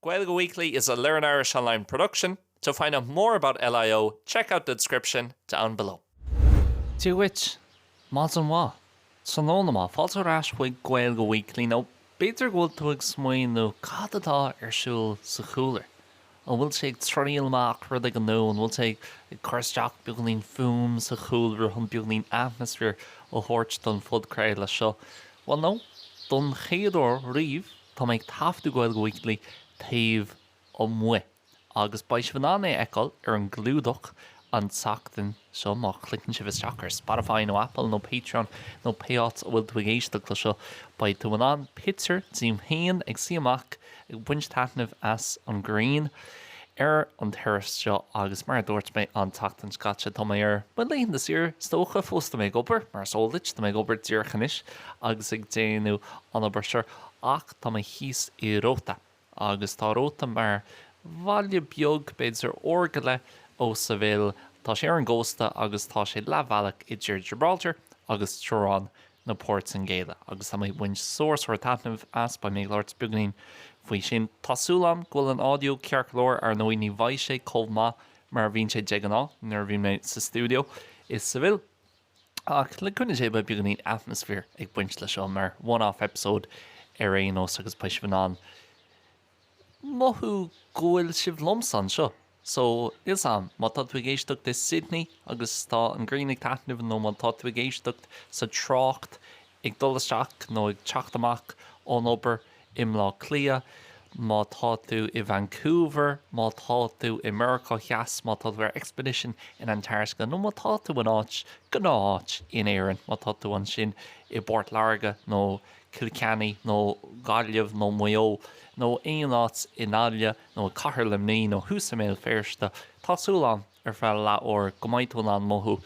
Gaeilge Weekly is a Learn Irish Online production. To find out more about LIO, check out the description down below. Dia dhuit! Maidin mhaith! Tráthnóna maith! Fáilte ar ais chuig Gaeilge Weekly, nó b'fhéidir go bhfuil tú ag smaoineamh cad atá ar siúl sa chúlra. An bhfuil sé ag triail amach ach rud éigin nua? An bhfuil sé ag cur isteach beagainín fuaim sa chúlra chun beagainín atmaisféar a thabhairt don phodchraoladh seo? Bhuel, no, don chéad uair riamh, Tá mé ag taifeadadh Gaeilge Weekly taobh amuigh agus beidh sibh in ann é a fheiceáil ar an gclúdach an tseachtain seo má chliceann sibh isteach ar Spotify nó Apple nó Patreon nó pé áit a bhfuil tú ag éisteacht le seo. Beidh tú in ann pictiúr díom féin ag suí amuigh ag baint taitnimh as an ghrian ar an terrace seo agus mar a dúirt mé an tseachtain seo caite, tá mé ar mo laethanta saoire, is dócha, fós tá mé ag obair, mar is eol duit, tá mé ag obair díreach anois agus ag déanamh an obair seo. Ach tá mé thíos i Rota, agus tá Rota mar bhaile beag, b'fhéidir uair go leith ó Seville, tá sé ar an gcósta agus tá sé leathbhealach idir Gibraltar agus teorainn na Portaingéile, agus tá mé ag baint sár sár taitneamh as, beidh mé ag labhairt beagáinín faoi sin. Tá súil agam go bhfuil an audio ceart go leor, ar ndóigh ní bheidh sé chomh maith mar a bhíonn sé de ghnáth nuair a bhíonn mé sa stiúideo i Seville, Ach le cúnamh Dé, beidh beagáinín atmaisféar ag baint leis seo, mar one-off episode ar aon nós, agus beidh sibh in ann mothú go bhfuil sibh liomsa anseo. So, níl 's am, má tá tú ag éisteacht i Sydney agus tá an ghrian ag taitneamh nó má tá tú ag éisteacht sa trácht Ag dul isteach nó ag teacht amach ón obair i mBleá Cliath, má tá tú i Vancouver, má tá tú i Meiriceá Theas, má tá tú ar expedition in Antartaice, nó má tá tú in áit, gnáth-áit, in Éirinn, má tá tú ansin i bPort Láirge nó Cill Chainnigh nó Gaillimh nó Maigh Eo, nó Dún na nGall nó i Cathair Luimní nó thuas i mBéal Feirste, tá súil agam, ar feadh leath-uair, go mbeidh tú in ann mothú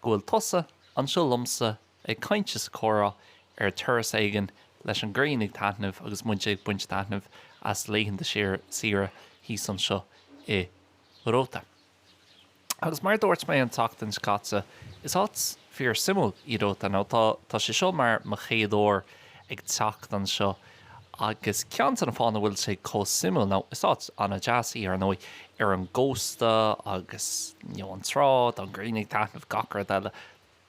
go bhfuil tusa anseo liomsa Ag caint is ag comhrá ar terrace éigin leis an ghrian ag taitneamh agus muid ag baint taitneamh as laethanta saoire thíos anseo i Róta. Agus mar a dúirt mé an tseachtain seo caite, is áit fíor suimiúil í Róta. Now, tá sé seo mar mo chéad uair ag teacht anseo agus ceann de na fáthanna a bhfuil sé chomh suimiúil, nó is áit an-deas í ar ndóigh, ar an gcósta agus, you know, an trá, tá an ghrian ag taitneamh, gach rud eile.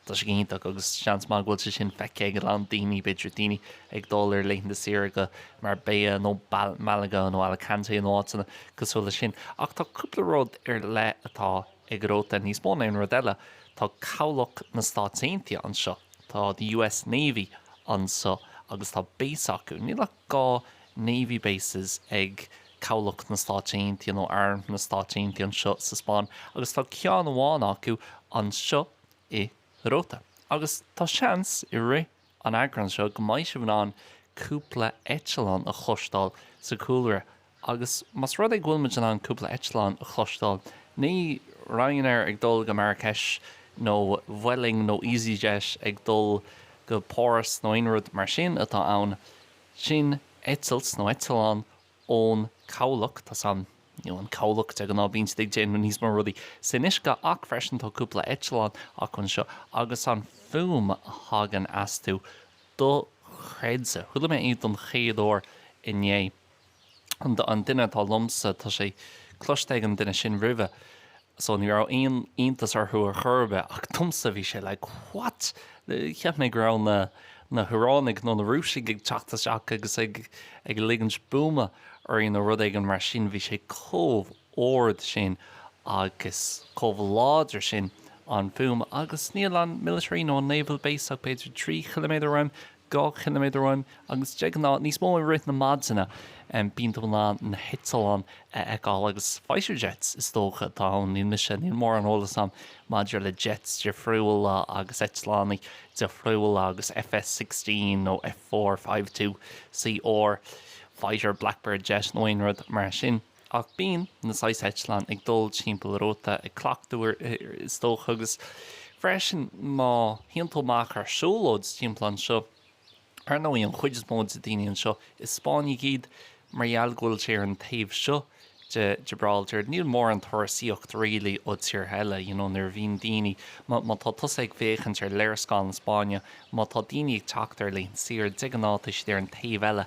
Tá sé iontach agus seans maith go bhfuil sé sin feicthe ag a lán daoine, b'fhéidir daoine ag dul ar laethanta saoire go Marbella nó Malaga nó Alicante nó áiteanna cosúil leis sin. Ach tá cúpla rud ar leith atá ag Róta, níos mó ná aon rud eile, tá cabhlach na Stáit Aontaithe anseo, tá the US Navy anseo agus tá base acu. Níl ach dhá Navy bases ag cabhlach na Stáit Aontaithe nó arm na Stáit Aontaithe anseo sa Spáinn agus tá ceann amháin acu anseo, i Róta agus tá seans i rith an eagráin seo go mbeidh sibh in ann cúpla eitleán a chloisteáil sa chúlra agus más rud é go bhfuil muid in ann cúpla eitleán a chloisteáil ní Ryanair ag dul go Marrakech nó Vueling nó Easyjet ag dul go Páras nó aon rud mar sin atá ann, sin eitilt nó eitleán ón cabhlach, tá's a'm, nó an cabhlach de ghnáth, bíonn siad ag déanamh níos mó rudaí san uisce ach freisin tá cúpla eitleán acu anseo agus an fuaim a thagann astu, do-chreidte. Chuala mé é don chéad uair inné. An duine atá liomsa, tá sé cloiste ag an duine sin roimhe. so ní raibh iontas orthu ar chor ar bith, ach domsa bhí sé like what? Cheap mé go raibh na na hIaránaigh nó na Rúisigh ag teacht isteach agus ag ag ligint buama orainn nó rud éigin mar sin, bhí sé chomh ard sin agus chomh láidir sin an fuaim, agus níl an military nó an naval base ach b'fhéidir trí chiliméadar uaim, 2 chiliméadar uaim, agus de ghnáth níos mó i rith na maidine, bíonn tú in ann na heitleáin a fheiceáil, agus fighter jets is dócha atá ann, níl mise, níl mórán eolas agam maidir le jets difriúla agus eitleáin difriúla agus FS sixteen nó F four, Five-Two, CR, fighter, blackbird jet nó aon rud mar sin. Ach bíonn na saghas eitleán ag dul timpeall Róta, ag cleachtadh, is dócha, agus freisin má théann tú amach ar siúlóid timpeall anseo, ar ndóigh, an chuid is mó de daoine anseo, is Spáinnigh iad, mar gheall go bhfuil sé ar an taobh seo de Gibraltar, níl mórán turasaíocht, really, ó tíortha eile, you know, nuair a bhíonn daoine, má, má tá tusa ag féachaint ar léarscáil na Spáinne, má tá daoine ag teacht ar laethanta saoire, de ghnáth, tá siad ar an taobh eile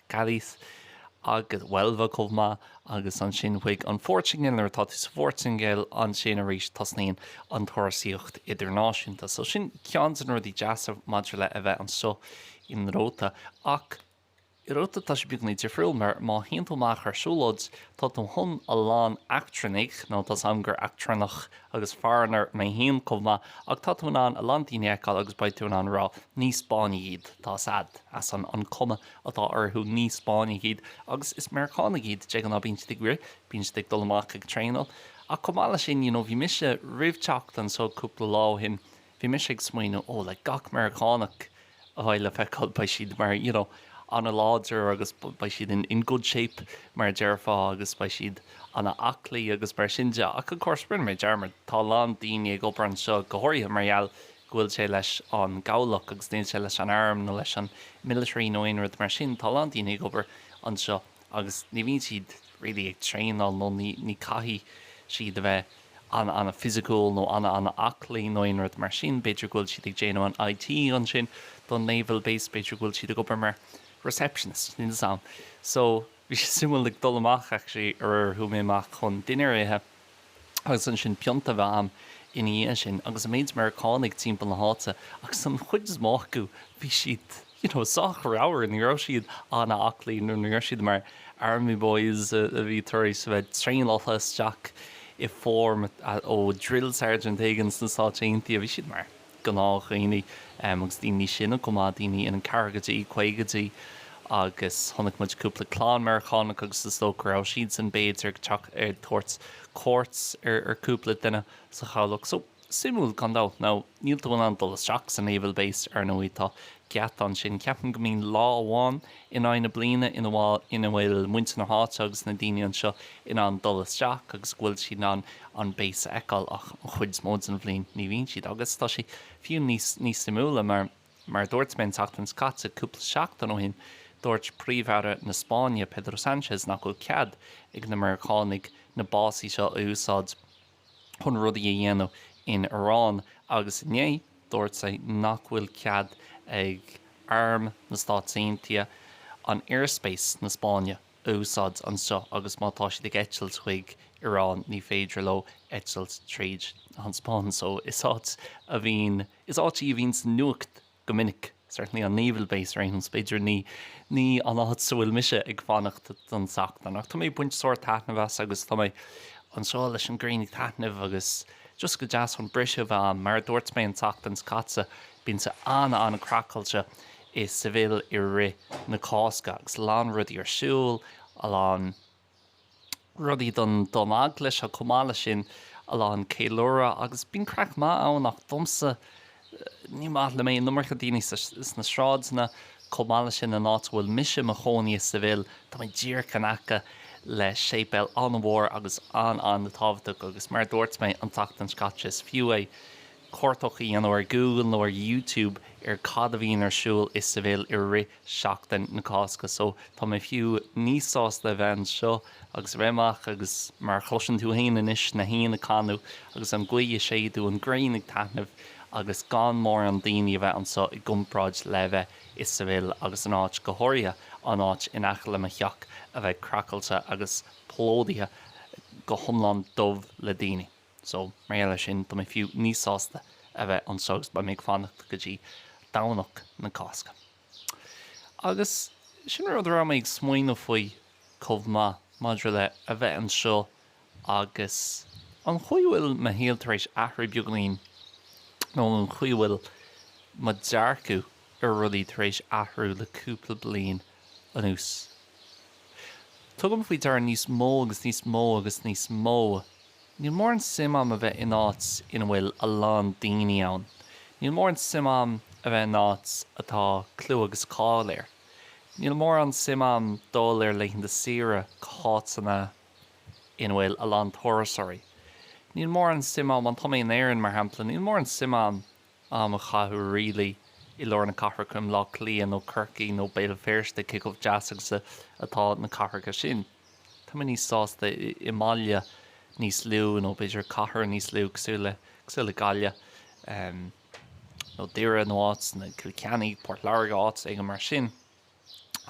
Cádiz agus Huelva chomh maith agus ansin chuig an Phortaingéil. Nuair atá tú sa Phortaingéil ansin arís tosnaíonn an turasaíocht idirnáisiúnta. So sin ceann de na rudaí deasa maidir le a bheith anseo i Róta. Ach i Róta tá sé beagán difriúil mar má théann tú amach ar siúlóid tá tú chun a lán eachtrannaigh, nó tá's a'm gur eachtrannach agus foreigner mé féin chomh maith, ach tá tú in ann a lán daoine a fheiceáil agus beidh tú in ann a rá ní Spáinnigh iad, tá's a'd, ar an cuma. atá orthu, ní Spáinnigh iad, agus is Meiriceánaigh iad, de ghnáth, bíonn siad ag rith, bíonn siad ag dul amach ag traenáil, ach chomh maith leis sin, you know, bhí mise, roimh teacht anseo cúpla lá ó shin, bhí mise ag smaoineamh, oh, like, gach Meiriceánach a bheidh le feiceáil, beidh siad mar, you know, an-láidir agus beidh siad in, in good shape, mar a déarfá, agus beidh siad an-aclaí agus mar sin de, ach of course, rinne mé dearmad, tá a lán daoine ag obair anseo, go háirithe mar gheall go bhfuil sé leis an gcabhlach agus níl sé leis an arm nó leis an military nó aon rud mar sin. Tá a lán daoine ag obair anseo agus ní bhíonn siad really ag traenáil nó ní ní caithfidh siad a bheith an-an-physical nó an-an-aclaí nó aon rud mar sin. B'fhéidir go bhfuil siad ag déanamh an IT ansin don naval base, b'fhéidir go bhfuil siad ag obair mar receptionist, níl a fhios a'm. So. Bhí sé suimiúil ag dul amach actually aréir, chuaigh mé amach chun dinnéar a ithe agus ansin pionta a bheith a'm ina dhiaidh sin agus an méid Meiriceánaigh timpeall na háite agus an chuid is mó acu bhí siad you know sách ramhar, ní raibh siad an-aclaí nó ní raibh siad mar army boys a bhí tar éis a bheith traenáilte isteach i form ó drill sergeant éigin sna Stáit Aontaithe, bhí siad mar. gnáthdhaoine agus daoine níos sine chomh maith, daoine ina gceathrachaidí, caogaidí agus chonaic muid cúpla clann Meiriceánach agus is dócha go raibh siadsan b'fhéidir ag teacht ag tabhairt cuairt ar cúpla duine sa chabhlach. So, suimiúil gan dabht. Now, níl tú in ann dul isteach sa Naval Base, ar ndóigh, tá geata ansin. Ceapaim go mbíonn lá amháin in aghaidh na bliana ina ina bhfuil muintir na háite agus na daoine anseo in ann dul isteach agus go bhfuil siad in ann an base a fheiceáil ach an chuid is mó den bhliain ní bhíonn siad agus tá sé fiú níos suimiúla mar mar a dúirt mé an tseachtain seo caite cúpla seachtain ó shin dúirt Príomh-Aire na Spáinne Pedro Sánchez nach bhfuil cead ag na Meiriceánaigh na básaí seo a úsáid chun rudaí a dhéanamh in Iran, agus inné dúirt sé nach bhfuil cead ag Arm na Stáit Aontaithe an airspace na Spáinne a úsáid anseo agus má tá siad ag eitilt chuig Iran ní féidir leo eitilt tríd an Spáinn, so is áit a bhíonn, is áit í a bhíonn sa nuacht go minic, certainly an naval base, b'fhéidir ní ní an áit sa bhfuil mise ag fanacht don tseachtain ach tá mé ag baint sórt taitneamh as agus tá mé anseo leis an ghrian ag taitneamh agus just go deas chun briseadh a bheith a'm. Mar a dúirt mé an tseachtain seo caite bíonn sé an-an-craiceáilte i Seville i rith na Cásca agus a lán rudaí ar siúl, a lán. rudaí don Eaglais. Chomh maith leis sin, a lán ceiliúradh agus bíonn craic mhaith ann ach domsa, ní maith liom an iomarca daoine sna sráideanna. Chomh maith leis sin, an áit a bhfuil mise i mo chónaí i Seville, tá mé díreach in aice le séipéal an-mhór agus an-an-tábhachtach agus mar a dúirt mé an tseachtain seo caite, is fiú é cuartach a dhéanamh ar Google nó ar YouTube ar cad a bhíonn ar siúl i Seville i rith seachtain na Cásca so tá mé fiú níos sásta a bheith anseo agus a bheith amach agus mar a chloiseann tú fhéin anois na héin ag canadh agus an ghaoth ag séideadh an ghrian ag taitneamh agus gan mórán daoine a bheith anseo i gcomparáid le a bheith i Seville agus an áit go háirithe an áit in aice le mo theach a bheith craiceáilte agus plódaithe go hiomlán dubh le daoine. So, mar gheall ar sin, tá mé fiú níos sásta a bheith anseo agus beidh mé ag fanacht go dtí Domhnach na Cásca. Agus sin rud a raibh mé ag smaoineamh faoi chomh maith, maidir le a bheith anseo agus an chaoi a bhfuil mo shaol tar éis athrú beagáinín, nó an chaoi a bhfuil mo dhearcadh ar rudaí tar éis athrú le cúpla bliain anuas. Tugaim faoi deara níos mó agus níos mó agus níos mó. Níl mórán suim agam a bheith in áit ina bhfuil a lán daoine ann. Níl mórán suim agam a bheith in áit atá clú agus cáil air. Níl mórán suim agam dul ar laethanta saoire go háiteanna ina bhfuil a lán turasóirí. Níl mórán suim agam, má tá mé in Éirinn, mar shampla, níl mórán suim agam am a chaitheamh really i lár na cathrach, i mBleá Cliath nó Corcaigh nó Béal Féirste, cé chomh deas agus a atá na cathracha sin. Tá mé níos sásta i mbaile níos lú nó b'fhéidir cathair níos lú cosúil le, cosúil le Gaillimh ehm, nó Doire nó Cill Chainnigh, Port Láirge, áit éigin mar sin.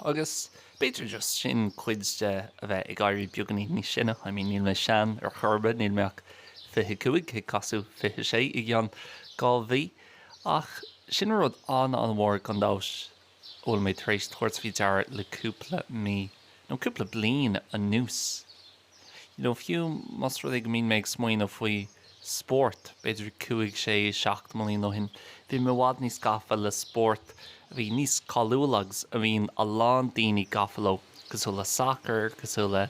Agus b'fhéidir just sin, cuid de a bheith ag éirí beagainín níos sine, I mean níl mé sean ar chor ar bith, níl mé ach fiche cúig, ag casadh fiche sé i gceann dhá mhí, ach sin rud an-an-mhór gan amhras a bhfuil mé tar éis tabhairt faoi deara le cúpla mí, nó cúpla bliain anuas. nó fiú más rud é go mbíonn mé ag smaoineamh faoi spórt, b'fhéidir cúig, sé, seacht mbliain ó shin, bhí mé i bhfad níos gafa le spóirt a bhí níos cáiliúla agus a mbíonn a lán daoine gafa leo, cosúil le sacar, cosúil le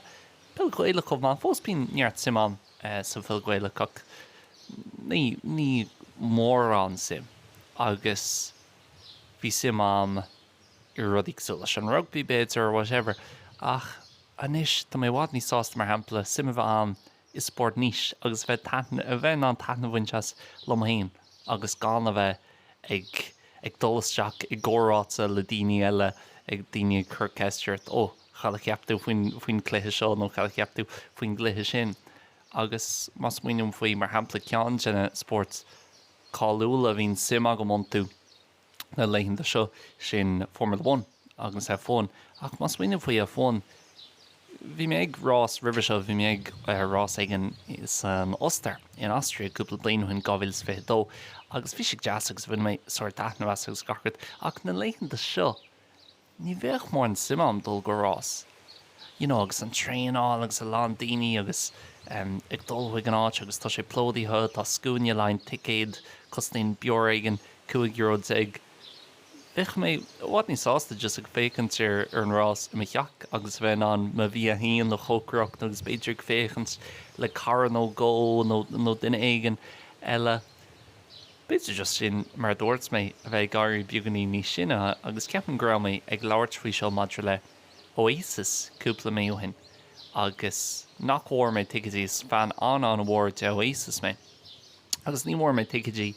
peil Ghaelach chomh maith, fós bíonn neart suim agam sa pheil Ghaelach ach ní, níl mórán suim. Agus bhí suim agam i rudaí cosúil leis an rugbaí b'fhéidir, whatever, ach. Anois, tá mé i bhfad níos sásta, mar shampla, suim a bheith ann i spórt niche agus bheith in ann taitneamh a bhaint as liom féin agus gan a bheith ag ag dul isteach i gcomhráite le daoine eile, ag daoine ag cur ceist ort, ó, cad a cheap tú faoin faoin cluiche seo nó cad a cheap tú faoin gcluiche sin? Agus má smaoiním faoi, mar shampla, ceann de na spóirt cáiliúla a bhíonn suim agam iontu, na laethanta seo, sin Formula One agus F1. Ach má smaoiním faoi F1, bhí mé ag rás roimhe seo, bhí mé ag rás éigin san Ostair, in Austria, cúpla bliain ó shin, 2022, agus bhí sé deas agus bhain mé sórt taitneamh as agus gach rud, ach na laethanta seo, ní bheadh mórán suim agam dul go rás, you know agus an traenáil agus a lán daoine agus em ag dul chuig an áit agus tá sé plódaithe, tá scuaine le haghaidh an ticéad cosnaíonn beoir éigin cúig euro déag bheadh mé i bhfad níos sásta just ag féachaint ar ar an rás i mo theach agus a bheith in ann mo bhia féin a chócaireacht agus b'fhéidir ag féachaint le cara nó dhó nó nó duine éigin eile B'fhéidir just sin mar a dúirt mé, a bheith ag éirí beagainín níos sine, agus ceapaim go raibh mé ag labhairt faoi seo maidir le Oasis cúpla mí ó shin, agus nach bhfuair mé ticéidí, is fan an-an-mhór de Oasis mé, agus ní bhfuair mé ticéidí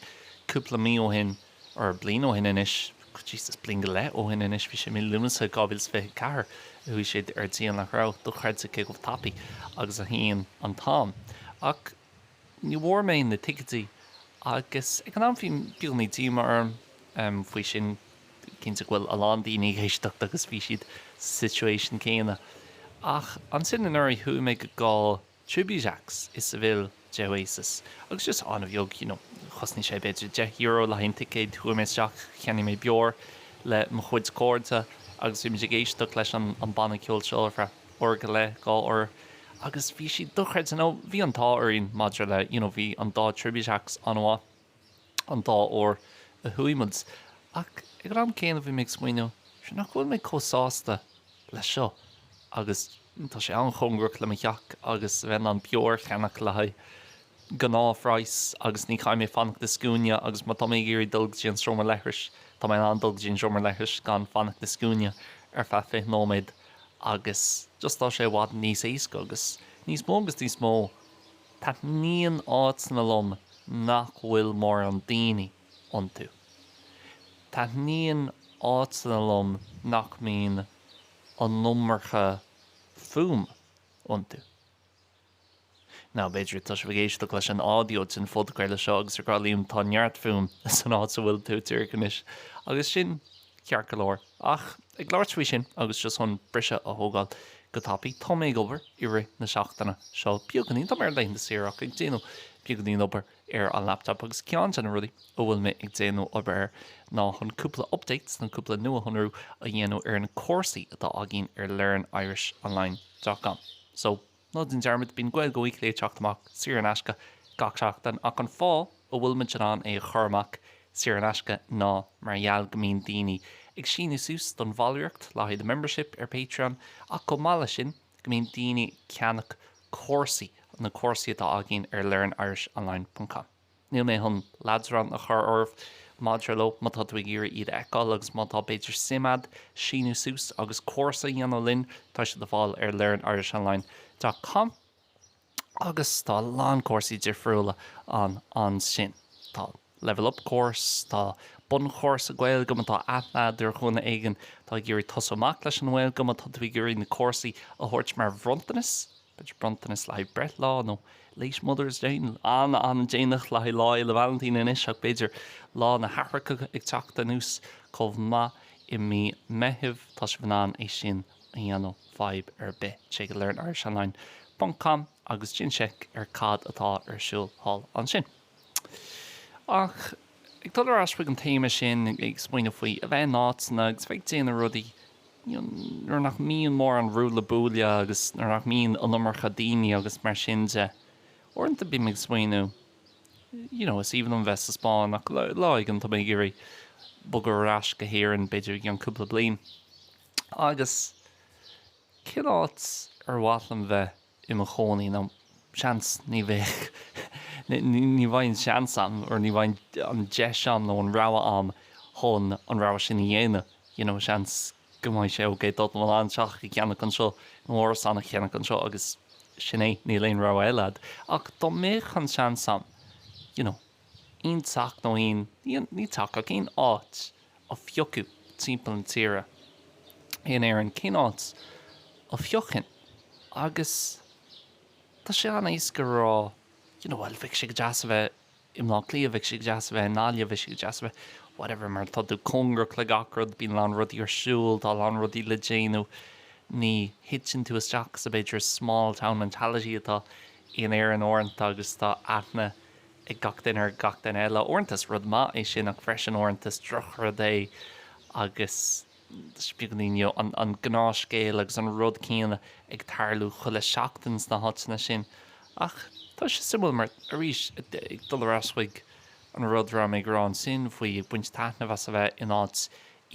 cúpla mí ó shin, or bliain ó shin anois, Jesus, bliain go leith ó shin anois, bhí sé mí Lúnasa 2024 a chuaigh siad ar díol nach raibh, dochreidte cé chomh tapaidh agus a théann an t-am, ach. ní bhfuair mé na ticéidí agus ag an am bhí beagáinín díomá orm faoi sin, cinnte go bhfuil a lán daoine ag éisteacht agus bhí siad sa situation céanna. Ach ansin anuraidh chuaigh mé go dá tribute acts i Seville de Oasis agus just an-bheag, you know, chosnaigh sé b'fhéidir deich euro le haghaidh an ticéid, chuaigh mé isteach, cheannaigh mé beoir le mo chuid cairde agus bhí muid ag éisteacht leis an banna ceoil seo ar feadh. uair go leith, dhá uair, agus bhí siad dochreidte, nó bhí an t-ádh orainn maidir le, you know, bhí an dá tribute acts an-mhaith an dá uair a chuaigh muid. Ach ag an am céanna bhí mé ag smaoineamh, sure, nach bhfuil mé chomh sásta le seo agus tá sé an-chóngarach le mo theach agus a bheith in ann beoir a cheannach le haghaidh gnáthphraghas agus ní chaithfidh mé fanacht i scuaine agus má tá mé ag iarraidh dul go dtí an seomra leithris, tá mé in ann dul go dtí an seomra leithris gan fanacht i scuaine ar feadh 20 nóiméad. agus just tá sé i bhfad níos éasca agus níos mó agus níos mó taitníonn áiteanna liom nach bhfuil mórán daoine iontu. Taitníonn áiteanna liom nach mbíonn an iomarca fuaime iontu. Nó b'fhéidir tá sibhse ag éisteacht leis an audio den phodchraoladh seo agus ag rá liom tá neart fuaim san áit a bhfuil tú, díreach anois. Agus sin ceart go leor. Ach ag labhairt faoi sin, agus just chun briseadh a thógáil go tapaidh, tá mé ag obair i rith na seachtaine seo beagáinín, tá mé ar laethanta saoire ach ag déanamh beagáinín obair ar an laptop agus ceann de na rudaí a bhfuil mé ag déanamh obair air ná chun cúpla updates, chun cúpla nuashonrú a dhéanamh ar na cúrsaí atá againn ar learnirishonline.com. So. Ná déan dearmad, bíonn Gaeilge Weekly ag teacht amach, saor in aisce, gach seachtain, ach an fáth a bhfuil muid in ann é a chur amach saor in aisce ná mar gheall go mbíonn daoine ag síniú suas don bhallraíocht le haghaidh the membership ar Patreon, ach chomh maith leis sin, go mbíonn daoine ag ceannach cúrsaí, na cúrsaí atá againn ar learnirishonline.com. Níl mé chun leadrán a chur oraibh maidir leo, má tá tú ag iarraidh iad a fheiceáil agus má tá, b'fhéidir, suim agat síniú suas agus cúrsa a dhéanamh linn, tá siad le fáil ar learnirishonline dot com agus tá a lán cúrsaí difriúla ann ansin. Tá Level Up Course, tá Bunchúrsa Gaeilge má tá aithne agat ar dhuine éigin atá ag iarraidh tosú amach leis an nGaeilge, má tá tú ag iarraidh na cúrsaí a thabhairt mar bhronntanas, B'fhéidir bronntanas le haghaidh breithlá nó Late Mother's Day. An-, an-déanach le haghaidh Lá Fhéile Vailintín anois ach b'fhéidir Lá na hAithreacha ag teacht anuas chomh maith i mí Meithimh. Tá sibh in ann é sin a dhéanamh, fadhb ar bith. Téigh go learnirishonline.com agus déan seic ar cad atá ar siúl thall ansin. Ach ag dul ar ais chuig an téama sin, ag smaoineamh faoi a bheith in áiteanna agus a bheith ag déanamh rudaí, you know, nuair nach mbíonn mórán ruaille buaille agus nuair nach mbíonn an iomarca daoine agus mar sin de. Uaireanta bím ag smaoineamh, you know, is aoibhinn liom a bheith sa Spáinn ach lá éigin tá mé ag iarraidh bogadh ar ais go hÉirinn, b'fhéidir i gceann cúpla bliain. Agus cén áit ar mhaith liom bheith? i mo chónaí nó seans ní bheidh ní bheidh an seans a'm or ní bheidh an deis a'm nó an rogha a'm chun an rogha sin a dhéanamh you know seans go mbeidh sé ok tá tú in ann teach a cheannach anseo nó árasán a cheannach anseo agus sin é níl aon rogha eile a'd ach dá mbeadh an seans a'm you know aon teach nó aon, ní teach ach aon áit a phiocadh timpeall na tíre in Éirinn, cén áit a phiocfainn? Agus tá sé an-éasca a rá, you know, bhuel, bheadh sé go deas a bheith i mBleá Cliath, bheadh sé go deas a bheith i nGaillimh, bheadh sé go deas a bheith whatever mar tá tú cóngarach le gach rud, bíonn a lán rudaí ar siúl, tá a lán rudaí le déanamh, ní thiteann tú isteach sa b'fhéidir small town mentality atá in Éirinn uaireanta agus tá aithne. ag gach duine ar gach duine eile. Uaireanta is rud maith é sin ach freisin uaireanta is drochrud é agus is beagainín you know an gnáthscéal agus an rud céanna ag tarlú chuile seachtain sna háiteanna sin ach tá sé suimiúil mar arís ag dul ar ais chuig an rud a raibh mé ag rá ansin faoi ag baint taitneamh as a bheith in áit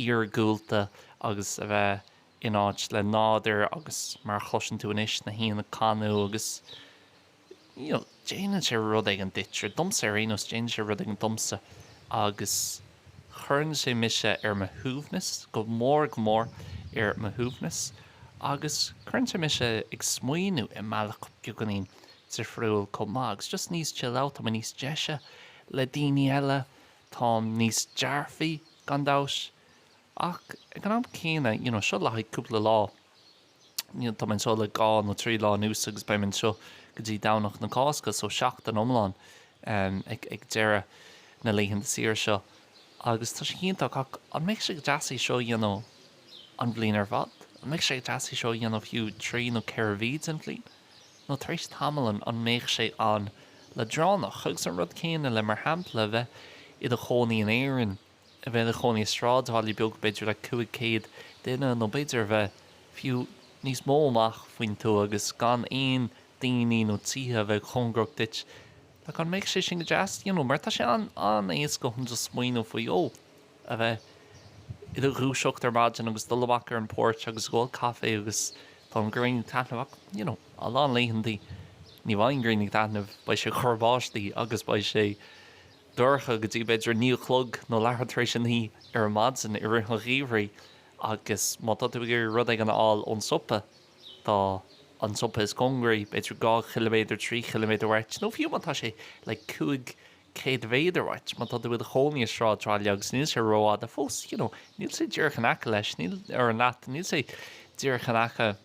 iargúlta agus a bheith in áit le nádur agus mar a chloiseann tú anois na héin ag canadh agus déanann sé rud éigin duitse, domsa ar aon nós, déanann sé rud éigin domsa agus cuireann sé mise ar mo shuaimhneas, go mór, go mór ar mo shuaimhneas agus cuireann sé mise ag smaoineamh i mbealach beagáinín difriúil chomh maith agus just níos chill out, tá mé níos deise le daoine eile, táim níos dearfaí gan dabht ach ag an am céanna, you know, seo le haghaidh cúpla lá. Tá mé anseo le dhá nó trí lá anuas agus beidh mé anseo go dtí Domhnach na Cásca, so seachtain iomlán ag deireadh na laethanta saoire seo agus tá sé iontach ach an mbeadh sé go deas é seo a dhéanamh an bhliain ar fad? An mbeadh sé go deas é seo a dhéanamh fiú trí nó ceithre mhí den bhliain? Nó tar éis tamaill an mbeadh sé an-leadránach? Agus an rud céanna le, mar shampla, bheith i do chónaí in Éirinn, a bheith i do chónaí i sráidbhaile beag, b'fhéidir le 500 duine, nó b'fhéidir a bheith fiú níos mó amach faoin tuath, agus gan aon daoine nó tithe a bheith cóngarach duit, nach mbeadh sé sin go deas, you know, mar tá sé an-éasca chun just smaoineamh faoi, ó, a bheith i do dhúiseacht ar maidin agus dul amach ar an porch agus ag ól caife agus tá an ghrian ag taitneamh, ach, you know, a lán laethanta ní bheidh an ghrian ag taitneamh, beidh sé ag cur báistí agus beidh sé. dorcha go dtí b'fhéidir a naoi a chlog nó leathuair tar éis a naoi ar an maidin i rith an gheimhridh agus má tá tú ag iarraidh rud éigin a fháil ón siopa, tá an siopa is cóngaraí b'fhéidir dhá chiliméadar, trí chiliméadar uait nó fiú má tá sé like cúig céad mhéadar uait, má tá tú i do chónaí i sráidbhaile agus níl sé rófhada fós, you know, níl sé díreach in aice leis, níl, or leat, níl sé díreach in aice.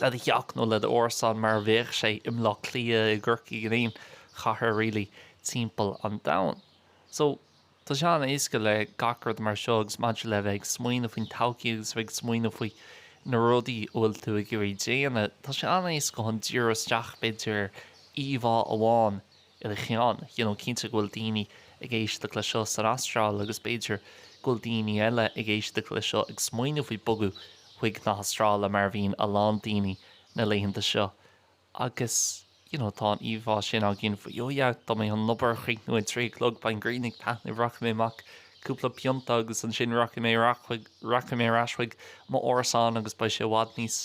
le do theach nó le d'árasán mar a bheadh sé i mBleá Cliath, i gCorcaigh, in aon chathair really timpeall an domhain. So, tá sé an-éasca le gach rud mar seo agus maidir le bheith ag smaoineamh faoin todhchaí agus a bheith ag smaoineamh faoi na rudaí a bhfuil tú ag iarraidh déanamh, tá sé an-éasca chun díriú isteach b'fhéidir ar íomhá amháin, Ar cheann, you know cinnte go bhfuil daoine ag éisteacht le seo san Astráil agus b'fhéidir go bhfuil daoine eile ag éisteacht le seo ag smaoineamh faoi bogadh chuig na hAstráile mar a bhíonn a lán daoine na laethanta seo agus you know tá an íomhá sin againn faoi oh yeah tá mé chun obair a chríochnú ag trí a chlog beidh an ghrian ag taitneamh rachaidh mé amach cúpla pionta agus ansin rachaidh mé rachaidh mé ar ais chuig m'árasán agus beidh sé i bhfad níos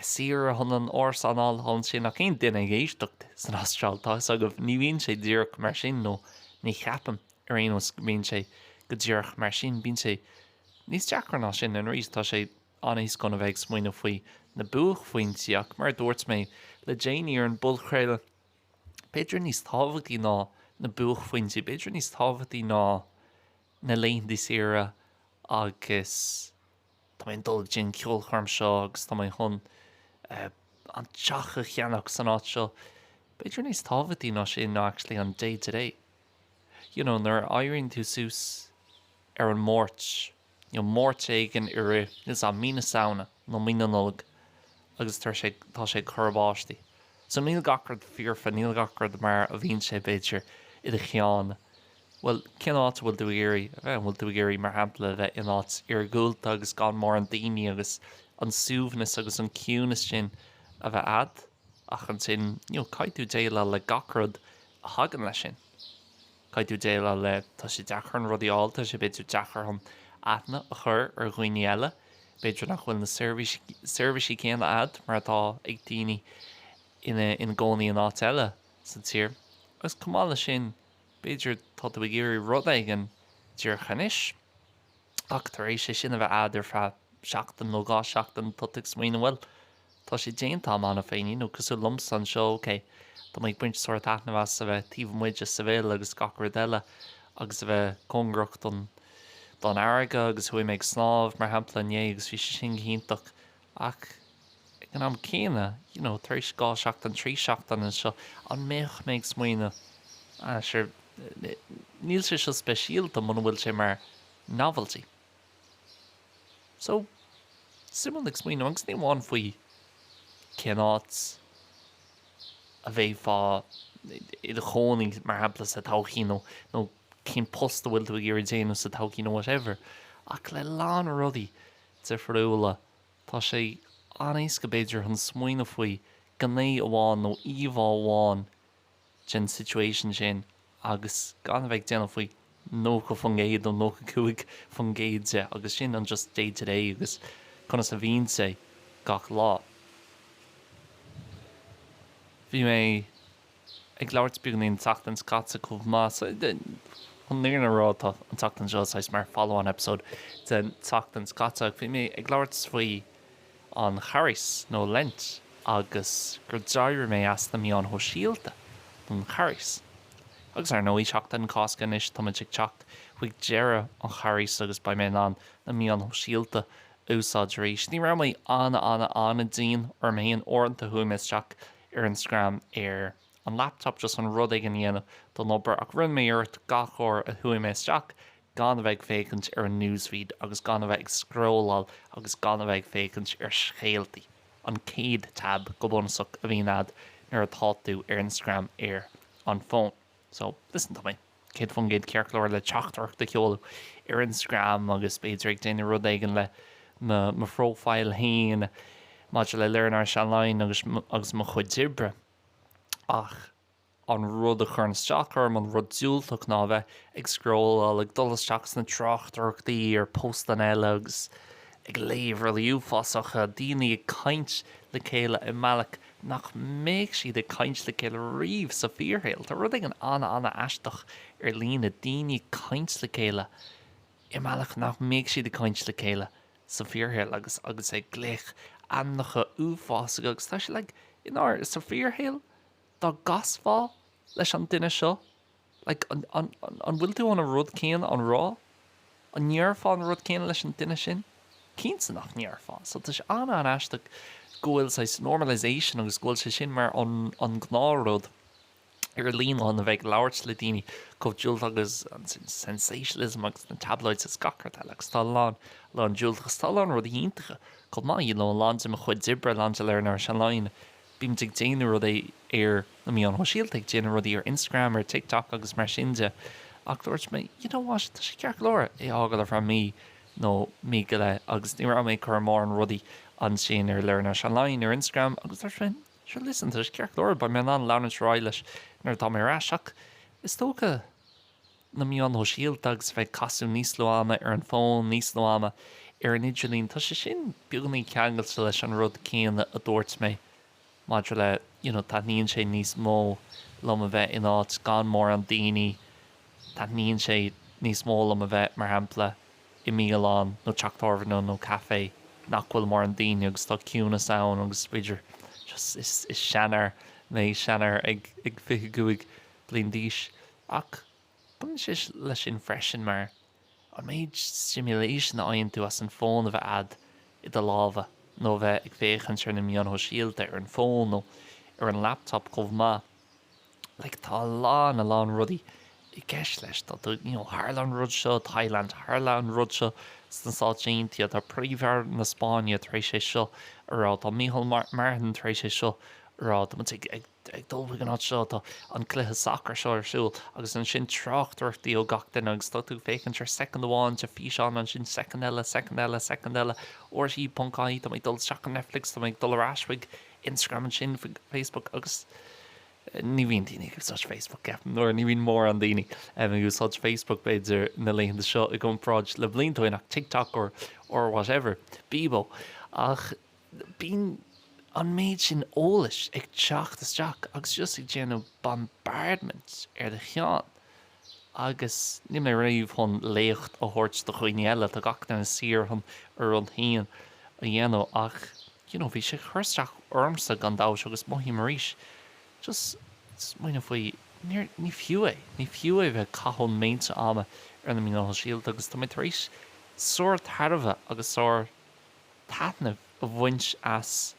saoire chun an árasán a fháil ansin ach aon duine ag éisteacht san Astráil, tá fhios agaibh, ní bhíonn sé díreach mar sin, nó ní cheapaim, ar aon nós, go mbíonn sé go díreach mar sin. Bíonn sé níos deacra ná sin, and arís, tá sé an-éasca chun a bheith ag smaoineamh faoi na buachphointí, ach mar a dúirt mé le déanaí ar an bpodchraoladh, b'fhéidir níos tábhachtaí ná na buachphointí, b'fhéidir níos tábhachtaí ná na laethanta saoire agus. Tá mé ag dul go dtí an ceolchoirm seo agus tá mé chun an teach a cheannach san áit seo. B'fhéidir níos tábhachtaí ná sin ná actually an day to day. You know, nuair a éiríonn tú suas ar an Máirt, you know, Máirt éigin i rith, is ea, mí na Samhna nó mí na Nollag agus tá sé, tá sé ag cur báistí. So níl gach rud foirfe, níl gach rud mar a bhíonn sé, b'fhéidir, i do cheann. Bhuel, cén áit a bhfuil tú ag iarraidh a bheith? An bhfuil tú ag iarraidh, mar shampla, a bheith in áit iargúlta agus gan mórán daoine agus an suaimhneas agus an ciúnas sin a bheith a'd? Ach ansin, you know, caithfidh tú déileáil le gach rud a thagann leis sin. Caithfidh tú déileáil le, tá sé deacair chun rudaí a fháil, tá sé b'fhéidir deacair chun aithne a chur ar dhaoine eile, b'fhéidir nach bhfuil na seirbhísí, seirbhísí céanna a'd mar atá ag daoine ina, ina gcónaí in áit eile sa tír. Agus chomh maith leis sin. B'fhéidir tá tú ag iarraidh rud éigin díreach anois, ach tar éis é sin a bheith a'd ar feadh seachtain nó dhá sheachtain, tá tú ag smaoineamh, bhuel, tá sé déanta a'm cheana féinín, nó cosúil liomsa anseo, ok, tá mé ag baint sórt taitneamh as a bheith taobh amuigh de Seville agus gach rud eile, agus a bheith cóngarach don, don fharraige, agus chuaigh mé ag snámh, mar shampla, inné agus bhí sé sin go hiontach, Ach ag an am céanna, you know, tar éis dhá sheachtain, trí sheachtain anseo, an mbeadh mé ag smaoineamh, ah, sure, níl sé seo speisialta muna bhfuil sé mar novelty. So, suimiúil ag smaoineamh, agus ní amháin faoi cén áit a bheifeá i do chónaí, mar shampla, sa todhchaí, nó, nó cén post a bhfuil tú ag iarraidh déanamh sa todhchaí nó whatever, ach le lán rudaí. difriúla, tá sé an-éasca b'fhéidir chun smaoineamh faoi ghné amháin nó íomhá amháin den situation sin agus gan a bheith ag smaoineamh faoi 90% nó 95% de agus sin an just day to day agus conas a bhíonn sé gach lá. Bhí mé. Ag labhairt beagainín an tseachtain seo caite chomh maith, so chun an fhírinne a rá tá an tseachtain seo saghas mar follow on episode den tseachtain seo caite ach bhí mé ag labhairt faoi an Charghas nó Lent agus gur d'éirigh mé as na meáin shóisialta don Charghas agus ar ndóigh Seachtain na Cásca anois, táimid ag teacht chuig deireadh an Charghais agus beidh mé in ann na meáin shóisialta a úsáid arís. Ní raibh mé an-an-an-an-dian orm fhéin, uaireanta chuaigh mé isteach ar Instagram ar an laptop just chun rud éigin a dhéanamh don obair ach rinne mé iarracht gach uair a chuaigh mé isteach gan a bheith ag féachaint ar an newsfeed agus gan a bheith ag scrolláil agus gan a bheith ag féachaint ar scéaltaí. An chéad tab go bunúsach a bhíonn a'd nuair atá tú ar Instagram ar an bhfón. So, listen to me. 100% ceart go leor le teachtaireacht a sheoladh ar Instagram agus b'fhéidir ag déanamh rud éigin le mo mo phróifíl féin maidir le Learn Irish Online agus agus mo chuid oibre ach an rud a chuireann isteach orm, an rud diúltach ná a bheith ag scrólláil, ag dul isteach sna tráchtaireachtaí ar postanna eile agus ag léamh rudaí uafásacha, daoine ag caint le chéile i mbealach nach mbeadh siad ag caint le chéile riamh sa bhfíorshaol. Tá rud éigin an-an-aisteach ar líne, daoine ag caint le chéile i mbealach nach mbeadh siad ag caint le chéile sa bhfíorshaol agus agus ag glaoch ainmneacha uafásacha agus tá sé like, in ár, sa bhfíorshaol dá gcasfá leis an duine seo, Like, an, an, an, an bhfuil tú chun an rud céanna a rá? An ndéarfá an rud céanna leis an duine sin? Cinnte nach ndéarfá. So tá sé an-an-aisteach go bhfuil saghas normalization agus go bhfuil sé sin mar an, an gnáthrud ar líne chun a bheith ag labhairt le daoine chomh diúltach agus an sensationalism agus na tabloids agus gach rud eile agus tá a lán, a lán diúltachas. Tá a lán rudaí iontacha chomh maith, you know, a lán de mo chuid oibre, a lán de Learn Irish Online, bímid ag déanamh rudaí ar na meáin shóisialta, ag déanamh rudaí ar Instagram, ar TikTok agus mar sin de, ach dúirt mé, you know what, tá sé ceart go leor é a fhágáil ar feadh mí nó mí go leith agus ní raibh mé ag cur mórán rudaí ansin ar Learn Irish Online ar Instagram agus dúirt mé, sure, listen, tá sé ceart go leor, beidh mé in ann leanúint ar aghaidh leis nuair atá mé ar ais ach is dócha. na meáin shóisialta agus a bheith ag caitheamh níos lú ama ar an bhfón, níos lú ama ar an idirlíon, tá sé sin beagainín ceangailte leis an rud céanna a dúirt mé maidir le you know taitníonn sé níos mó liom a bheith in áit gan mórán daoine, taitníonn sé níos mó liom a bheith, mar shampla, i mbialann nó teach tábhairne nó café nach bhfuil mórán daoine agus tá ciúnas ann agus is féidir just is seanfhear mé, seanfhear ag ag fiche cúig. bliain d'aois, ach baineann sé leis sin freisin, mar an méid stimulation a fhaigheann tú as an fón a bheith a'd i do lámha, nó a bheith ag féachaint ar na meáin shóisialta ar an fón nó ar an laptop chomh maith. Like, tá a lán, a lán rudaí i gceist leis, tá tú, you know, tharla an rud seo i Thailand, tharla an rud seo sna Stáit Aontaithe, tá Príomh-Aire na Spáinne tar éis é seo a rá, tá Micheál Martin tar éis é seo a rá, tá muid ag, ag. Ag dul chuig an áit seo atá an cluiche sacair seo ar siúl agus ansin tráchtaireachtaí ó gach duine agus tá tú ag féachaint ar soicind amháin de físeán, ansin soicind eile, soicind eile, soicind eile, RTÉ.ie, tá mé ag dul isteach go Netflix, tá mé ag dul ar ais chuig Instagram ansin, chuig Facebook agus ní bhíonn daoine ag úsáid Facebook, nó ní bhíonn mórán daoine ag úsáid Facebook b'fhéidir na laethanta seo i gcomparáid le blianta ó shin ach TikTok or whatever, Bebo ach. Bíonn an méid sin eolais ag teacht isteach agus just ag déanamh bombardment ar do cheann. Agus níl mé riamh chun léacht a thabhairt do dhaoine eile, tá gach duine saor chun a rud féin a dhéanamh ach you know bhí sé ag cur isteach ormsa gan dabht agus mothaím arís just smaoineamh faoi, níor, ní fiú é, ní fiú é bheith ag caitheamh méid sin ama ar na meáin shóisialta agus tá mé tar éis sár tairbhe agus sár taitneamh a bhaint as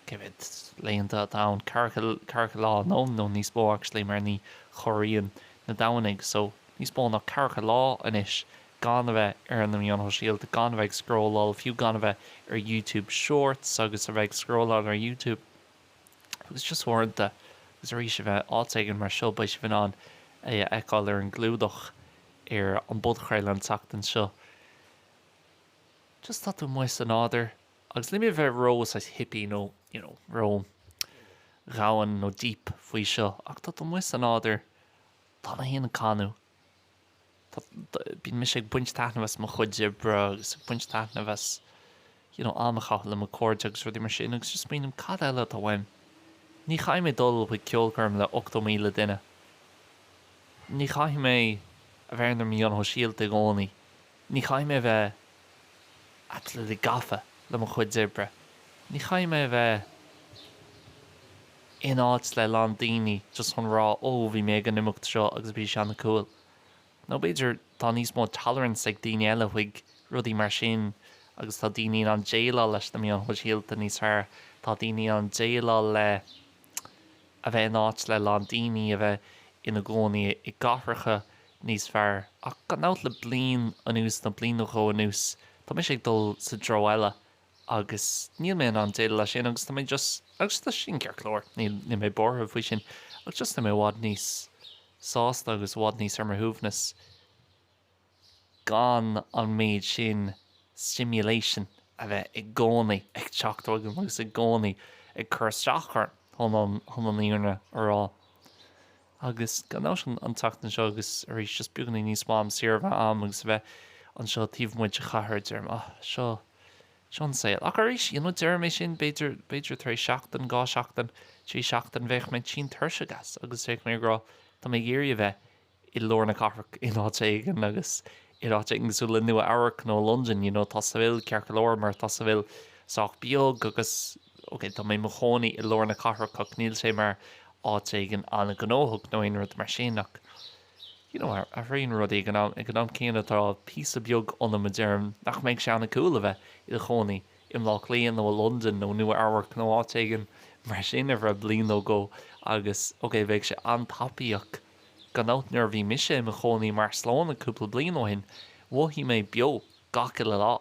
cé mhéad laethanta atá ann, ceathracha lá nó nó níos mó actually mar ní chomhaireann na Domhnaigh so níos mó ná ceathracha lá anois gan a bheith ar na meáin shóisialta, gan a bheith ag scrolláil, fiú gan a bheith ar YouTube shorts agus a bheith ag scrolláil ar YouTube agus just uaireanta agus arís a bheith áit éigin mar seo beidh sibh in ann é a fheiceáil ar an gclúdach ar an bpodchraoladh an tseachtain seo. just tá tú amuigh sa nádúr agus ní mé bheith ró saghas hippy nó you know ró dhomhain nó deep faoi seo ach tá tú amuigh sa nádúr tá mé féin ag canadh tá bíonn mise ag baint taitneamh as mo chuid oibre agus ag baint taitneamh as you know am a chaitheamh le mo cairde agus rudaí mar sin agus just smaoinim cad eile atá uaim ní chaithfidh mé dul chuig ceolchoirm le 80,000 duine ní chaithfidh mé a bheith ar na meáin shóisialta i gcónaí Ní chaithfidh mé bheith absolutely gafa le mo chuid oibre. Ní chaithfidh mé bheith in áit le a lán daoine just chun rá oh bhí mé ag an imeacht seo agus bhí sé ana cool. Nó b'fhéidir tá níos mó tolerance ag daoine eile chuig rudaí mar sin agus tá daoine in ann déileáil leis na meáin shóisialta níos fearr, tá daoine in ann déileáil le a bheith in áit le a lán daoine, a bheith ina gcónaí i gcathracha níos fearr. Ach gan dabht le bliain anuas, nó bliain nó dhó anuas, tá mise ag dul sa dtreo eile agus níl mé in ann déileáil leis sin agus tá mé just, agus tá sin ceart go leor, níl mé buartha faoi sin, ach just tá mé i bhfad níos sásta agus i bhfad níos ar mo shuaimhneas gan an méid sin stimulation a bheith i gcónaí ag teacht chugam agus i gcónaí ag cur isteach orm, chun an fhírinne a rá. Agus gan dabht an tseachtain seo, agus arís just beagán níos mó am saor a bheith a'm agus a bheith anseo taobh amuigh de chathair, deirim ah, seo, seo an saol. Ach arís, you know, deirim é sin, b'fhéidir, b'fhéidir tar éis seachtain, dhá sheachtain, trí sheachtain, bheadh mé tinn tuirseach as agus bheadh mé ag rá, tá mé ag iarraidh a bheith i lár na cathrach in áit éigin agus in áit éigin cosúil le Nua Eabhrac nó Londain, you know, tá Seville ceart go leor mar tá Seville sách beag agus, OK, tá mé i mo chónaí i lár na cathrach ach níl sé mar áit éigin an-ghnóthach nó aon rud mar sin ach you know athraíonn rudaí. Ag an am céanna tá píosa beag ionam a deireann nach mbeadh sé an-cool a bheith i do chónaí i mBlá Cliath nó i Londain nó Nua Eabhrac nó áit éigin mar sin ar feadh bliain nó dhó agus OK bheadh sé an-tapaíoch gan dabht. Nuair a bhí mise i mo chónaí i mBarcelona cúpla bliain ó shin mhothaigh mé beo gach uile lá.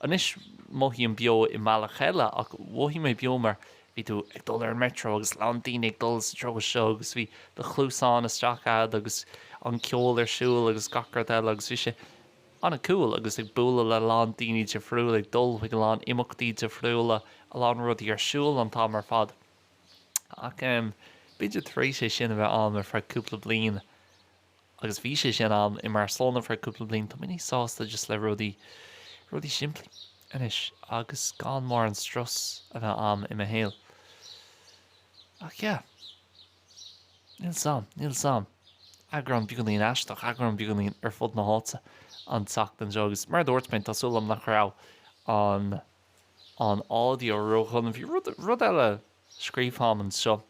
Anois mothaím beo i mbealach eile, ach mhothaigh mé beo mar bhí tú ag dul ar an Metro agus a lán daoine ag dul sa treo seo agus bhí do chluasáin isteach a'ad agus an ceol ar siúl agus gach rud eile agus bhí sé an-cool agus ag bualadh le a lán daoine difriúil, ag dul chuig a lán imeachtaí difriúla, a lán rudaí ar siúl an t-am ar fad. Ach em b'fhéidir tar éis é sin a bheith am ar feadh cúpla bliain, agus bhí sé sin am i mBarcelona ar feadh cúpla bliain, tá mé níos sásta just le rudaí, rudaí simplí anois agus gan mórán strus a bheith am i mo shaol. Ach yeah. Níl 's am, níl 's am. Eagrán beagánín aisteach, eagrán beagánín ar fud na háite an tseachtain seo agus mar a dúirt mé, tá súil agam nach raibh an, an audio ró-dhona. Bhí rud, rud eile a scríobh a'm anseo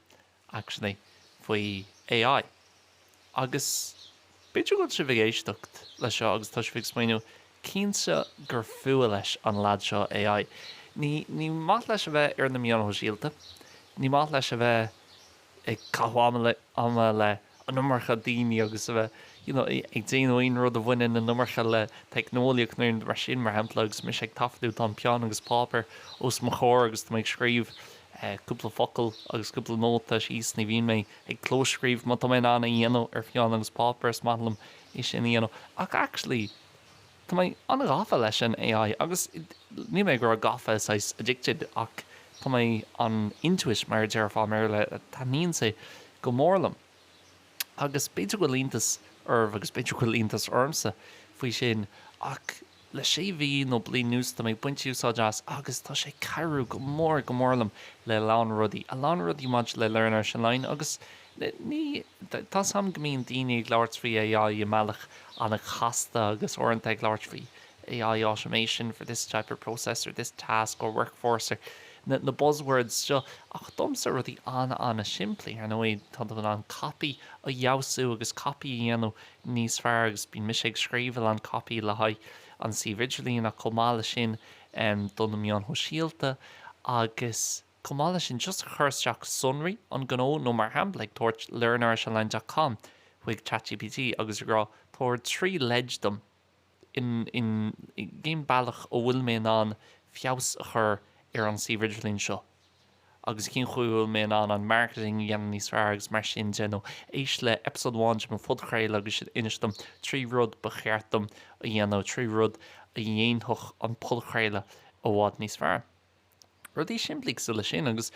actually faoi AI. Agus b'fhéidir go bhfuil sibh ag éisteacht leis seo agus tá sibh ag smaoiniú, Cinnte gur fuath leis an leaid seo AI. Ní maith leis a bheith ar na meáin shóisialta, ní maith leis a bheith ag caitheamh ama le an iomarca daoine agus a bheith you know ag déanamh aon rud a bhaineann an iomarca le teicneolaíocht nó aon rud mar sin mar shampla agus mise ag taifeadadh tá an peann agus páipéar os mo chomhair agus tá mé ag scríobh cúpla focal agus cúpla nóta síos ní bhíonn mé ag clóscríobh má tá mé in ann é a dhéanamh ar pheann agus páipéar is maith liom é sin a dhéanamh ach actually Tá mé an-ghafa leis an AI agus níl mé ag rá gafa saghas addicted ach tá mé an into it mar a déarfá i mBéarla, taitníonn sé go mór liom agus b'fhéidir go bhfuil iontas oraibh agus b'fhéidir go bhfuil iontas ormsa faoi sin ach le sé mhí nó bliain anuas tá mé ag baint úsáid as agus tá sé ag cabhrú go mór go mór liom le a lán rudaí, a lán rudaí maidir le learn ar an line agus. Ní, ní, tá 's a'm go mbíonn daoine ag labhairt faoi AI i mbealach an-chasta agus uaireanta ag labhairt faoi AI automation for this type of process or this task or workforce or na, na buzz words seo ach domsa rudaí an-an-simplí, ar ndóigh tá tú in ann copy a fheabhsú agus copy a dhéanamh níos fearr agus bíonn mise ag scríobh a lán copy le haghaidh an suíomh idirlín ach chomh maith leis sin em do na meáin shóisialta agus Chomh maith leis sin, just ag cur isteach sonraí an ghnó nó mar shampla ag tabhairt learnirishonline.com chuig chat gpt agus ag rá 'tabhair trí leid dom in in cén bealach a bhfuil mé in ann feabhas a chur ar an suíomh idirlín seo agus cén chaoi a bhfuil mé in ann an marketing a dhéanamh níos fearr' agus mar sin de nó éist le episode amháin de mo phodchraoladh agus sin inis dom trí rud ba cheart dom a dhéanamh trí rud a dhéanfadh an podchraoladh i bhfad níos fearr. Rudaí simplí cosúil leis sin agus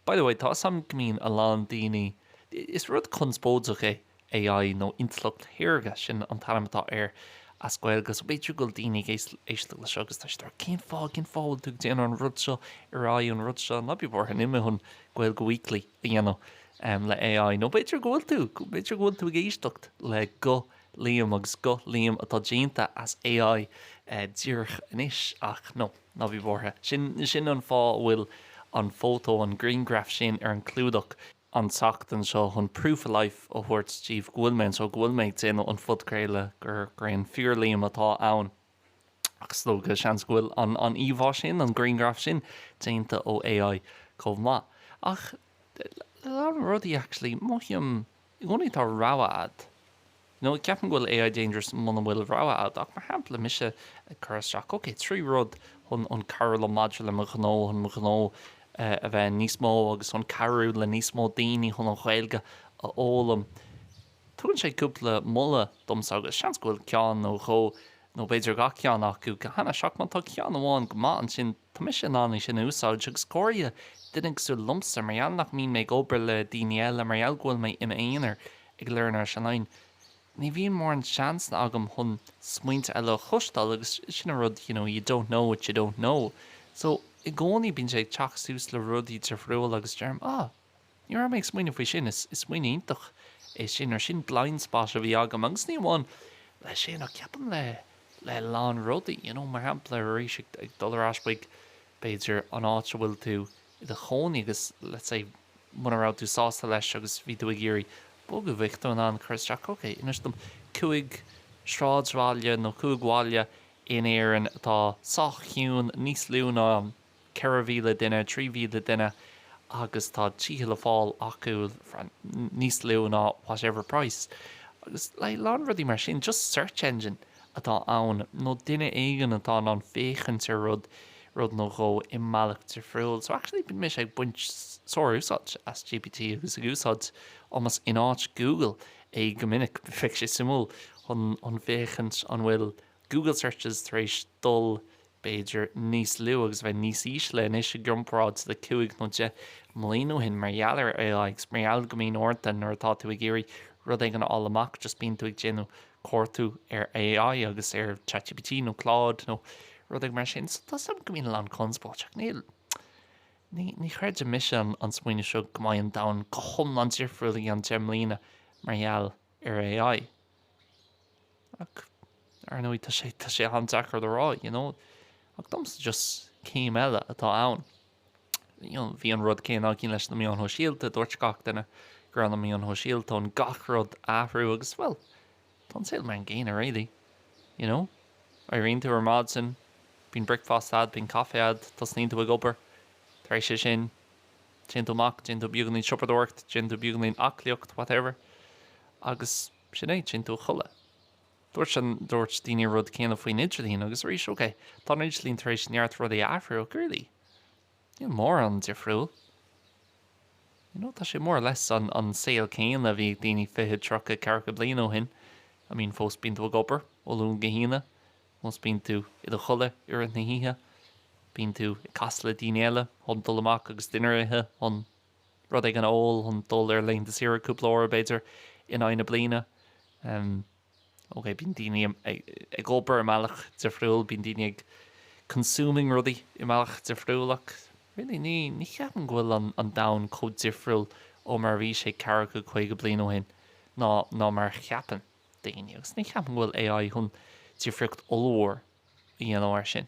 by the way, tá 'fhios a'm go mbíonn a lán daoine, is rud conspóideach é AI nó intleacht shaorga, sin an t-ainm atá air as Gaeilge, so b'fhéidir go bhfuil daoine ag éisteacht le seo agus tá siad ag rá cén fáth, cén fáth a bhfuil tú ag déanamh an rud seo ar aghaidh an rud seo, ná bí buartha, níl mé chun Gaeilge Weekly a dhéanamh em le AI, nó b'fhéidir go bhfuil tú, b'fhéidir go bhfuil tú ag éisteacht le guth Liam agus guth Liam atá déanta as AI díreach anois ach no. Ná bí buartha, sin sin an fáth a bhfuil an fótó, an grianghraf sin ar an clúdach an tseachtain seo, chun proof of life a thabhairt díbh go bhfuil mé anseo, go bhfuil mé ag déanamh an phodchraoladh, gur gur an fíor-Liam atá ann. Ach is dócha, seans, go bhfuil an an íomhá sin, an grianghraf sin, déanta ó AI chomh maith. Ach, le le lán rudaí, actually, mothaím. I gcónaí tá rogha agat. Nó ceapaim go bhfuil AI dangerous muna bhfuil rogha agat, ach mar shampla mise ag cur isteach, ok, trí rud chun an cabhrú liom maidir le mo ghnó, chun mo ghnó a bheith níos mó agus chun cabhrú le níos mó daoine chun an Ghaeilge a fhoghlaim. Tugann sé cúpla moladh domsa agus seans go bhfuil ceann nó dhó nó b'fhéidir gach ceann acu go hainnis, ach má tá ceann amháin go maith, ansin. Tá mise in ann é sin a úsáid, agus go háirithe duine cosúil liomsa, mar gheall nach mbíonn mé ag obair le daoine eile, mar gheall go bhfuil mé i m'aonar ag Learn Irish Online. Ní bhíonn mórán seansanna agam chun smaointe eile a chloisteáil, agus sin an rud, you know, you don't know what you don't know. So, i gcónaí bíonn sé ag teacht suas le rudaí difriúla, agus deirim, ah, Ní raibh mé ag smaoineamh faoi sin, is smaoineamh iontach é sin, or sin blind spot a bhí agam, agus ní amháin le sin ach ceapaim le le lán rudaí, you know, mar shampla arís ag dul ar ais chuig b'fhéidir an áit a bhfuil tú i do chónaí agus let's say muna raibh tú sásta leis agus bhí tú ag iarraidh bogadh, bheadh tú in ann cur isteach ok, inis dom cúig sráidbhaile nó cúig bhaile in Éirinn atá sách ciúin, níos lú ná. 4,000 duine, 3,000 duine agus tá tithe le fáil acu for níos lú ná whatever price agus like a lán rudaí mar sin just search engine atá ann nó duine éigin atá in ann féachaint ar rud rud nó dhó i mbealach difriúil so actually bíonn mise ag baint sár-úsáid as GPT agus ag úsáid almost in áit Google é go minic bheadh sé suimiúil chun chun féachaint an bhfuil Google searches tar éis dul b'fhéidir níos lú agus a bheith níos ísle anois i gcomparáid le cúig nó deich mbliain ó shin mar gheall ar AI agus mar gheall go mbíonn uaireanta nuair atá tú ag iarraidh rud éigin a fháil amach just bíonn tú ag déanamh cuartú ar AI agus ar ChatGPT nó Claude nó rud éigin mar sin so tá a fhios agam go mbíonn a lán conspóid ach níl ní ní chreidim mise an an smaoineamh seo go mbeidh an domhan go hiomlán difriúil i gceann deich mbliana mar gheall ar AI. Ach, ar ndóigh, tá sé, tá sé an-deacair le rá, you know. Ach domsa just céim eile atá ann. You know, bhí an rud céanna againn leis na meáin shóisialta, dúirt gach duine go raibh na meáin shóisialta chun gach rud a athrú agus, bhuel, tá an saol mar an gcéanna really. You know? Éiríonn tú ar maidin, bíonn bricfeasta a'd, bíonn caife a'd, tosnaíonn tú ag obair. Tar éis é sin. Téann tú amach, déann tú beagáinín siopadóireacht, déann tú beagáinín aclaíocht, whatever, agus sin é, téann tú a chodladh. Dúirt an, dúirt daoine an rud céanna faoin idirlíon, agus arís, ok, tá an idirlíon tar éis neart rudaí a athrú, ach really, níl mórán difriúil. You know, tá sé more or less an, an saol céanna a bhí ag daoine fiche, tríocha, ceathracha bliain ó shin. I mean, fós bíonn tú ag obair, ó Luan go hAoine, Fós bíonn tú i do chodladh i rith na hoíche, bíonn tú ag casadh le daoine eile chun dul amach agus dinnéar a ithe, chun rud éigin a ól, chun dul ar laethanta saoire cúpla uair, b'fhéidir, in aghaidh na bliana. OK, bíonn daoine ag obair i mbealach difriúil, bíonn daoine ag consuming rudaí i mbealach difriúil ach really ní cheapaim go bhfuil an domhan chomh difriúil ó mar a bhí sé ceathracha caoga bliain ó shin ná mar a cheapann daoine, agus ní cheapaim go bhfuil AI chun difríocht ollmhór a dhéanamh mar sin.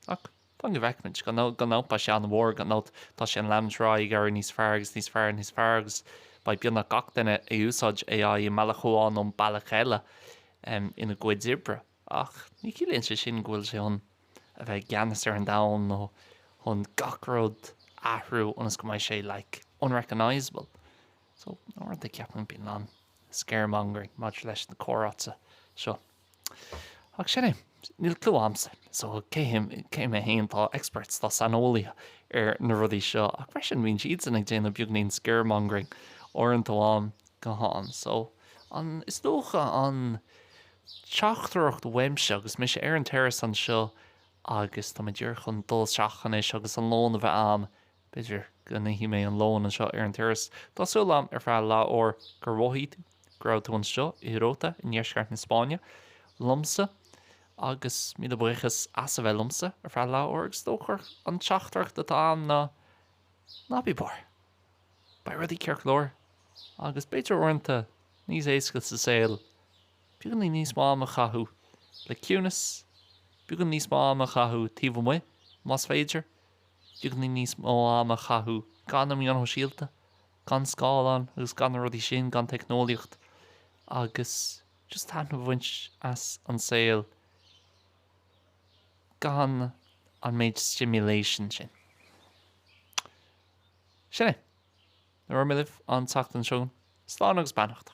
Ach fan go bhfeicfimid. Gan dabht tá sé an-mhór, gan dabht tá sé chun leanúint ar aghaidh ag éirí níos fearr agus níos fearr níos fearr agus beidh beagnach gach duine ag úsáid AI i mbealach amháin nó bealach eile ina gcuid oibre. Ach ní chiallaíonn sé sin go bhfuil sé chun a bheith i gceannas ar an domhan nó chun gach rud a athrú ionas go mbeidh sé like unrecognisable. So, uaireanta ceapaim bíonn a lán scaremongering maidir leis na comhráite seo. Ach sin é, níl clue agamsa, so cé him, cé mé féin, tá experts, tá saineolaithe ar na rudaí seo, ach freisin bíonn siadsan ag déanamh beagáinín scaremongering uaireanta ó am go ham. So, an, is dócha an teachtaireacht uaimse, agus mise ar an terrace anseo agus tá mé díreach chun dul isteach anois agus an lón a bheith a'am, B'fhéidir go n-íosfaidh mé an lón anseo ar an turas. Tá súil agam ar feadh leath uair gur mhothaigh tú go raibh tú anseo i Rota i ndeisceart na Spáinne liomsa agus míle buíochas as a bheith liomsa ar feadh leath uair agus is dócha gurb í an teachtaireacht atá ann ná ná bí buartha, beidh rudaí ceart go leor agus b'fhéidir uaireanta níos éasca sa saol beagáinín níos mó ama a chaitheamh le ciúnas, beagáinín níos mó ama a chaitheamh taobh amuigh más féidir. Beagáinín níos mó ama a chaitheamh gan na meáin shóisialta, gan scáileáin agus gan na rudaí sin, gan teicneolaíocht, agus just taitneamh a bhaint as an saol gan an méid stimulation sin. Sin é. Labhróidh mé libh an tseachtain seo chugainn. Slán agus beannacht.